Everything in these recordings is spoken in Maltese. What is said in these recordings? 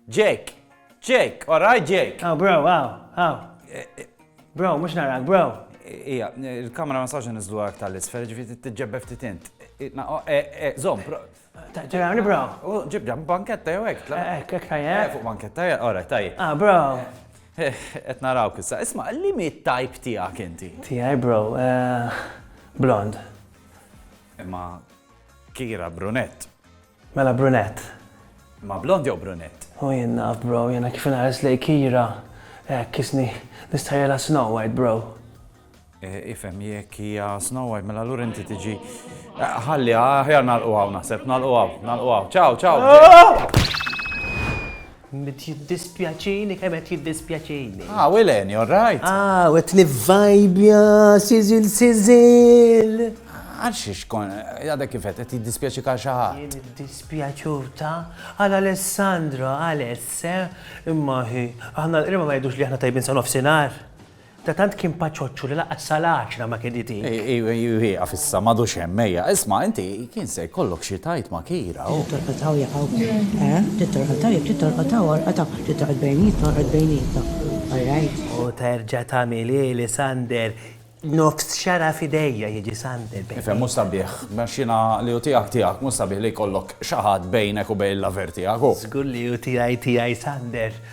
Jake! Jake! Alright, Jake! Oh, bro, aw, aw. Bro, mhux narak, bro. Ija, il-kamera ma sax niżlu għak tal-isfel, ġifieri tiġġebbe ftit int. Zom, bro. Ġerani, bro. Ġibda, banketta jew hekk. Hekk, hekk tajjeb. Eh, fuq banketta, alright, tajjeb. Ah, bro. Eh, qed naraw kissa. Isma' li mi type tiegħek inti? Tiegħi bro, eh, blond. Imma kira brunett. Mela brunett. Ma blond jew brunett? U jien naf bro, jiena kif inħares lejn Kira, hekk isni nistħajjilha Snow White bro. Ifhem, jekk hija Snow White mela allura inti tiġi. Ħalli, aħjar nagħlqu hawn naħseb, nagħlqu hawn, nagħlqu hawn. Ciao, ciao! Ah! Qed jiddispjaċini kemm qed jiddispjaċini. Ah, Will Annie, all right? Ah, u qed nivvajbja, siżil siżil. Għal xiex kon, għadek kifet, qed jiddispjaċi ka xi ħadd. Jien iddispjaċuta għal Alessandro, Aless, eh? imma hi, aħna l-qrima ma jgħidux li aħna tajbin sa nofsinhar. Ta' tant kien paċoċċu li lanqas sal-għaxra ma kien iti. Ieqaf issa, m'għadux hemm, ejja. Isma', inti kien se jkollok xi tgħid ma' Kira u. Tittorqod hawn jekk hawn. Eh? Tittorqod hawn jekk tittorqod hawn orqod hawn. Tittorqod bejnietna orqod bejnietna. All right? U terġa' tagħmilhieli, Sander. Nofs xara f'idejja jiġi Sander bejnietna. Ifhem, mhux sabiħ. Għax jiena li hu tiegħek tiegħek, mhux sabiħ li jkollok xi ħadd bejnek u bejn l-lover tiegħek u. Żgur li hu tiegħi tiegħi, Sander.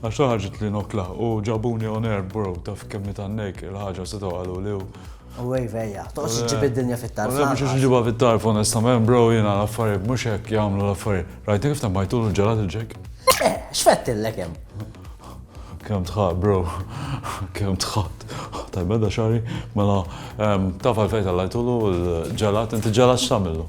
Għax ħarġet li nokla u ġabuni on air bro taf kemm nitgħannejk il-ħaġa setgħu qaluli u. U wave ejja, toqgħodx iġġib id-dinja fit-tarf. U le mhux għax iġibha fit-tarf onestament bro jiena l-affarijiet mhux hekk jagħmlu l-affarijiet. Rajtni kif temmajtulu l-ġelat il-ġeg? Eh, x'fettilek hemm? Kemm tħadd bro, kemm tħadd. Tajbeda xari, mela taf għalfejn tellajtulu l-ġelat, inti ġelat x'tagħmillu?